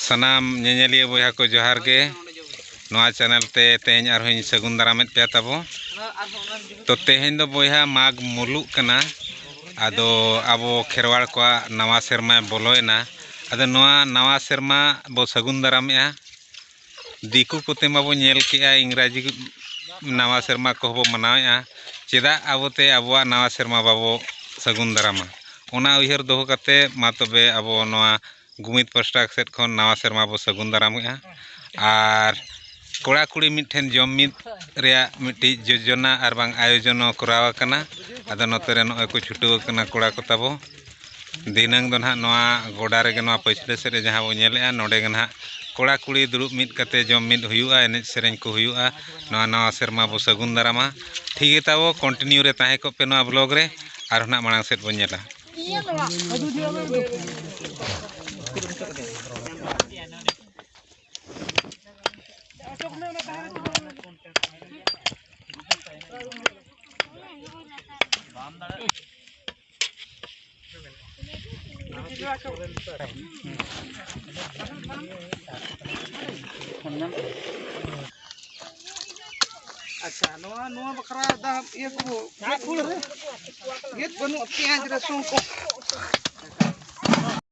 ᱥᱟᱱᱟᱢ ᱧᱮᱧᱮᱞᱤᱭᱟᱹ ᱵᱚᱭᱦᱟ ᱠᱚ ᱡᱚᱦᱟᱨ ᱜᱮ ᱱᱚᱣᱟ ᱪᱮᱱᱮᱞ ᱛᱮ ᱛᱮᱦᱮᱧ ᱟᱨᱦᱚᱸᱧ ᱥᱟᱹᱜᱩᱱ ᱫᱟᱨᱟᱢᱮᱫ ᱯᱮᱭᱟ ᱛᱟᱵᱚ ᱛᱚ ᱛᱮᱦᱮᱧ ᱫᱚ ᱵᱚᱭᱦᱟ ᱢᱟᱜᱽ ᱢᱩᱞᱩᱜ ᱠᱟᱱᱟ ᱟᱫᱚ ᱟᱵᱚ ᱠᱷᱮᱨᱣᱟᱲ ᱠᱚᱣᱟᱜ ᱱᱟᱣᱟ ᱥᱮᱨᱢᱟ ᱵᱚᱞᱚᱭᱮᱱᱟ ᱟᱫᱚ ᱱᱚᱣᱟ ᱱᱟᱣᱟ ᱥᱮᱨᱢᱟ ᱵᱚ ᱥᱟᱹᱜᱩᱱ ᱫᱟᱨᱟᱢᱮᱜᱼᱟ ᱫᱤᱠᱩ ᱠᱚᱛᱮ ᱢᱟᱵᱚᱱ ᱧᱮᱞ ᱠᱮᱜᱼᱟ ᱤᱝᱨᱟᱡᱤ ᱱᱟᱣᱟ ᱥᱮᱨᱢᱟ ᱠᱚᱦᱚᱸ ᱵᱚᱱ ᱢᱟᱱᱟᱣᱮᱜᱼᱟ ᱪᱮᱫᱟᱜ ᱟᱵᱚᱛᱮ ᱟᱵᱚᱣᱟᱜ ᱱᱟᱣᱟ ᱥᱮᱨᱢᱟ ᱵᱟᱵᱚ ᱥᱟᱹᱜᱩᱱ ᱫᱟᱨᱟᱢᱟ ᱚᱱᱟ ᱩᱭᱦᱟᱹᱨ ᱫᱚᱦᱚ ᱠᱟᱛᱮ ᱢᱟ ᱛᱚᱵᱮ ᱟᱵᱚ ᱱᱚᱣᱟ ᱜᱩᱢᱤᱫ ᱯᱟᱥᱴᱟ ᱥᱮᱫ ᱠᱷᱚᱱ ᱱᱟᱣᱟ ᱥᱮᱨᱢᱟ ᱵᱚᱱ ᱥᱟᱹᱜᱩᱱ ᱫᱟᱨᱟᱢᱮᱜᱼᱟ ᱟᱨ ᱠᱚᱲᱟᱼᱠᱩᱲᱤ ᱢᱤᱫ ᱴᱷᱮᱱ ᱡᱚᱢ ᱢᱤᱫ ᱨᱮᱭᱟᱜ ᱢᱤᱫᱴᱤᱡ ᱡᱳᱡᱚᱱᱟ ᱟᱨ ᱵᱟᱝ ᱟᱭᱳᱡᱚᱱ ᱦᱚᱸ ᱠᱚᱨᱟᱣ ᱠᱟᱱᱟ ᱟᱫᱚ ᱱᱚᱛᱮ ᱨᱮ ᱱᱚᱜᱼᱚᱸᱭ ᱠᱚ ᱪᱷᱩᱴᱟᱹᱣ ᱠᱟᱱᱟ ᱠᱚᱲᱟ ᱠᱚ ᱛᱟᱵᱚ ᱫᱷᱤᱱᱟᱹᱝ ᱫᱚ ᱱᱟᱜ ᱱᱚᱣᱟ ᱜᱚᱰᱟ ᱨᱮᱜᱮ ᱱᱚᱣᱟ ᱯᱟᱹᱪᱷᱞᱟᱹ ᱥᱮᱫ ᱨᱮ ᱡᱟᱦᱟᱸ ᱵᱚᱱ ᱧᱮᱞᱮᱜᱼᱟ ᱱᱚᱰᱮ ᱜᱮ ᱱᱟᱜ ᱠᱚᱲᱟ ᱠᱩᱲᱤ ᱫᱩᱲᱩᱵ ᱢᱤᱫ ᱠᱟᱛᱮᱫ ᱡᱚᱢ ᱢᱤᱫ ᱦᱩᱭᱩᱜᱼᱟ ᱮᱱᱮᱡ ᱥᱮᱨᱮᱧ ᱠᱚ ᱦᱩᱭᱩᱜᱼᱟ ᱱᱚᱣᱟ ᱱᱟᱣᱟ ᱥᱮᱨᱢᱟ ᱵᱚᱱ ᱥᱟᱹᱜᱩᱱ ᱫᱟᱨᱟᱢᱟ ᱴᱷᱤᱠ ᱜᱮᱭᱟ ᱛᱟᱵᱚ ᱠᱚᱱᱴᱤᱱᱤᱭᱩ ᱨᱮ ᱛᱟᱦᱮᱸ ᱠᱚᱜ ᱯᱮ ᱱᱚᱣᱟ ᱵᱞᱚᱜᱽ ᱨᱮ ᱟᱨ ᱦᱚᱸ ᱱᱟᱜ ᱢᱟᱲᱟᱝ ᱥᱮᱫ ᱵᱚᱱ ᱧᱮᱞᱟ ᱟᱪᱪᱷᱟ ᱱᱚᱣᱟ ᱱᱚᱣᱟ ᱵᱟᱠᱷᱨᱟ ᱫᱟᱜ ᱤᱭᱟᱹ ᱠᱚ ᱜᱮᱫ ᱵᱟᱹᱱᱩᱜᱼᱟ ᱯᱮᱸᱭᱟᱡᱽ ᱨᱟᱹᱥᱩᱱ ᱠᱚ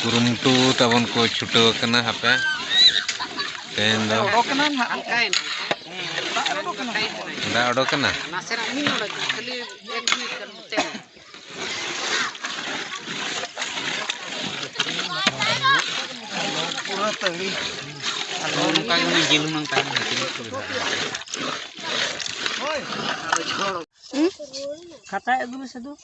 ᱠᱩᱨᱩᱢᱩᱴᱩ ᱛᱟᱵᱚᱱ ᱠᱚ ᱪᱷᱩᱴᱟᱹᱣ ᱟᱠᱟᱱᱟ ᱦᱟᱯᱮ ᱛᱮᱦᱮᱧ ᱫᱚ ᱫᱟᱜ ᱚᱰᱚᱠ ᱠᱟᱱᱟ ᱠᱷᱟᱛᱟᱭ ᱟᱹᱜᱩ ᱢᱮᱥᱮ ᱫᱩ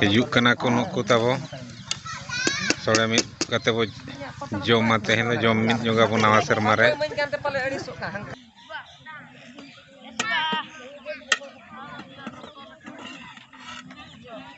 ᱦᱤᱡᱩᱜ ᱠᱟᱱᱟ ᱠᱚ ᱱᱩᱠᱩ ᱛᱟᱵᱚ ᱥᱚᱲᱮ ᱢᱤᱫ ᱠᱟᱛᱮ ᱵᱚ ᱡᱚᱢᱟ ᱛᱮᱦᱮᱧ ᱫᱚ ᱡᱚᱢ ᱢᱤᱫ ᱧᱚᱜᱟ ᱵᱚ ᱱᱟᱣᱟ ᱥᱮᱨᱢᱟ ᱨᱮ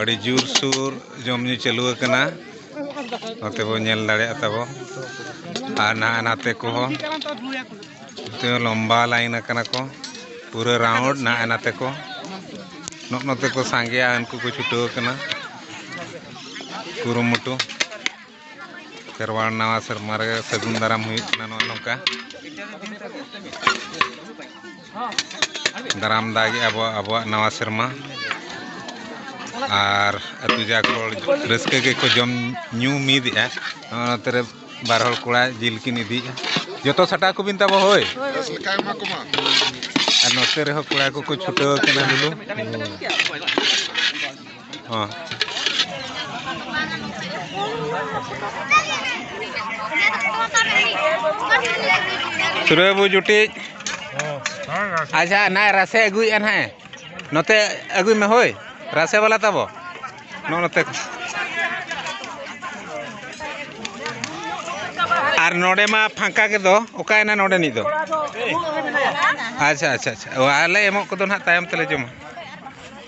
ᱟᱹᱰᱤ ᱡᱳᱨᱥᱳᱨ ᱡᱚᱢ ᱧᱩ ᱪᱟᱹᱞᱩ ᱟᱠᱟᱱᱟ ᱱᱚᱛᱮ ᱵᱚ ᱧᱮᱞ ᱫᱟᱲᱮᱭᱟᱜ ᱛᱟᱵᱚ ᱟᱨ ᱱᱟᱦᱟᱜ ᱱᱟᱛᱮ ᱠᱚᱦᱚᱸ ᱱᱚᱛᱮ ᱞᱚᱢᱵᱟ ᱞᱟᱭᱤᱱ ᱟᱠᱟᱱᱟ ᱠᱚ ᱯᱩᱨᱟᱹ ᱨᱟᱣᱩᱱᱰ ᱱᱟᱦᱟᱜ ᱱᱟᱛᱮ ᱠᱚ ᱱᱚᱜ ᱱᱚᱛᱮ ᱠᱚ ᱥᱟᱸᱜᱮᱭᱟ ᱩᱱᱠᱩ ᱠᱚ ᱪᱷᱩᱴᱟᱹᱣ ᱟᱠᱟᱱᱟ ᱠᱩᱨᱩᱢᱩᱴᱩ ᱠᱷᱮᱨᱣᱟᱲ ᱱᱟᱣᱟ ᱥᱮᱨᱢᱟ ᱨᱮ ᱥᱟᱹᱜᱩᱱ ᱫᱟᱨᱟᱢ ᱦᱩᱭᱩᱜ ᱠᱟᱱᱟ ᱱᱚᱜᱼᱚ ᱱᱚᱝᱠᱟ ᱫᱟᱨᱟᱢ ᱫᱟᱜᱮ ᱟᱵᱚ ᱟᱵᱚᱣᱟᱜ ᱱᱟᱣᱟ ᱥᱮᱨᱢᱟ ᱟᱨ ᱟᱹᱛᱩ ᱡᱟᱠ ᱦᱚᱲ ᱨᱟᱹᱥᱠᱟᱹ ᱜᱮᱠᱚ ᱡᱚᱢ ᱧᱩ ᱢᱤᱫᱮᱜᱼᱟ ᱱᱚᱜᱼᱚ ᱱᱚᱛᱮ ᱨᱮ ᱵᱟᱨ ᱦᱚᱲ ᱠᱚᱲᱟ ᱡᱤᱞ ᱠᱤᱱ ᱤᱫᱤᱭᱮᱜᱼᱟ ᱡᱚᱛᱚ ᱥᱟᱴᱟᱣ ᱠᱚᱵᱤᱱ ᱛᱟᱵᱚ ᱦᱳᱭ ᱟᱨ ᱱᱚᱛᱮ ᱨᱮᱦᱚᱸ ᱠᱚᱲᱟ ᱠᱚᱠᱚ ᱪᱷᱩᱴᱟᱹᱣ ᱠᱟᱱᱟ ᱞᱩᱞᱩ ᱦᱚᱸ ᱥᱩᱨᱟᱹᱭ ᱵᱟᱹᱵᱩ ᱡᱩᱴᱤᱡ ᱟᱪᱪᱷᱟ ᱱᱟᱭ ᱨᱟᱥᱮ ᱟᱹᱜᱩᱭᱮᱫᱼᱟ ᱱᱟᱦᱟᱜ ᱱᱚᱛᱮ ᱟᱹᱜᱩᱭ ᱢᱮ ᱦᱳᱭ ᱨᱟᱥᱮ ᱵᱟᱞᱟ ᱛᱟᱵᱚ ᱱᱚᱜᱼᱚ ᱱᱚᱛᱮ ᱟᱨ ᱱᱚᱰᱮ ᱢᱟ ᱯᱷᱟᱸᱠᱟ ᱜᱮᱫᱚ ᱚᱠᱟᱭᱮᱱᱟ ᱱᱚᱰᱮᱱᱤᱡ ᱫᱚ ᱟᱪᱪᱷᱟ ᱟᱪᱪᱷᱟ ᱟᱪᱪᱷᱟ ᱚ ᱟᱞᱮ ᱮᱢᱚᱜ ᱠᱚᱫᱚ ᱱᱟᱦᱟᱜ ᱛᱟᱭᱚᱢ ᱛᱮᱞᱮ ᱡᱚᱢᱟ